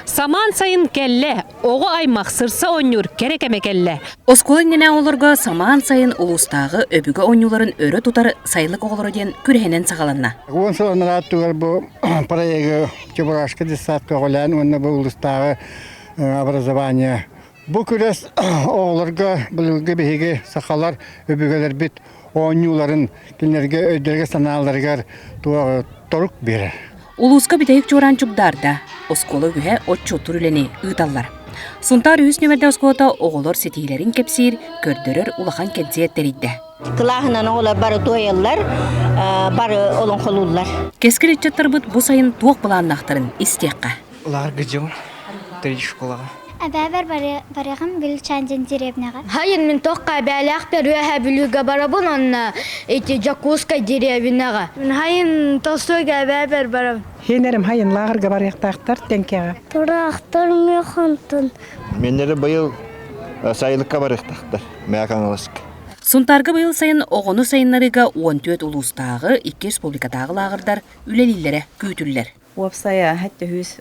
Самаан сайын кэллэ. Оҕо аймах сырса оонньуур кэрэ кэмэ кэллэ. Оскуола иннинэ оҕолорго самаан сайын улуустааҕы өбүгэ оонньууларын өрө тутар Сайылык оҕолоро диэн күрэһинэн саҕаланна. Уон сылынан аттыгар бу проегы Чебурашка детсадка оҕолээн уонна бу улуустааҕы образование Бу күрэс оҕолорго былыргы биһиги сахалар өбүгэлэрбит оонньууларын кинилэргэ өйдөрүгэр-санааларыгар торук биэрэр. Улууска бүтэһик чуораан чугдаарда. Оскуола үһэ отчуоттуур үлэни ыыталлар. Сунтаар үһүс нүөмэрдэ оскуолата оҕолор ситиһиилэрин кэпсиир, көрдөрөр улахан кэнсиэр тэрийдэ. Кылааһынан оҕолор бары туойаллар, бары олоҥхолууллар. Кэскил ыччаттарбыт бу сайын туох былааннаахтарын истиэххэ. Ларгыдым три школаҕа. Эбэбэр барыгым Гүлчандин деревняҕа. Хайын мин тохха эбээлээхпэр үөһэ бүлүүгэ барабын онно ити Дьокуускай деревняҕа. Хайын тосуга эбэбэр барабын. Хенерим хайын лааҕырга барыахтаахтар тэнкэҕэ. Тураахтар механтын. Меннері быйыл сайылыкка барыахтаахтар Мэ Хаҥаласка. Сунтаарга быйыл сайын оҕону сайыннарыыга он түөрт улуустааҕы, икки республикатааҕы лааҕырдар үлэлииллэрэ күүтүллэр. Уопсайа төһүүс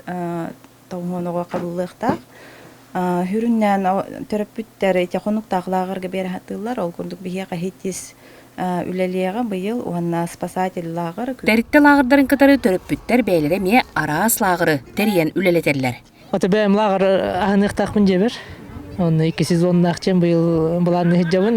тоҥуон оҕо хабыллыахтаах. Хүрүннээн төрөппүттэр ити хонуктаахлааҕырга биэрэхаттыыллар. Ол курдук биһиэхэ ХИТИС үлэлиэҕэ быйыл уонна спасательлааҕыр. Тэрилтэ лааҕырдарын кытары төрөппүттэр бэйэлэрэ эмиэ араас лааҕыры тэрийэн үлэлэтэллэр. Ото бэйэм лааҕыр аһыныахтаахпын дьэбэр. Онно икки сезоннаах чем быйыл былаанны сылдьабын.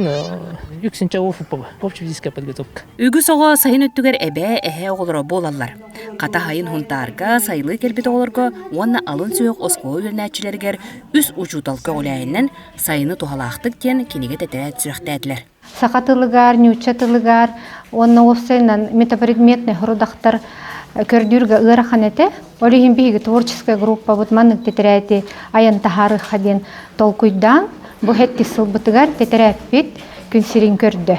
Үксүн чаҕы футбола, общепитическая подготовка. Үгүс оҕо сайын өттүгэр эбээ, эһээ оҕолоро буолаллар. Хата сайын хунтаарга сайылыы кэлбит оҕолорго уонна алын сүһүөх оскуола үөрэнээччилэригэр үс учууталка оҕуляйынан сайыны туһалаахтык диэн кинигэ тэтэрээт сүрэхтээтилэр. саха тылыгар, ньуучча тылыгар уонна уопсайынан метапредметный родахтар көрдүүргэ ыарахан этэ. Ол иһин биһиги творческая группабыт маннык тэтэрээти айан таһаарыахха диэн толкуйдаан бу 70 сылбытыгар тэтэрээппит күн сирин көрдө.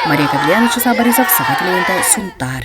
Мария Кавлианович Сабаризов саха киноҕунта Сунтаар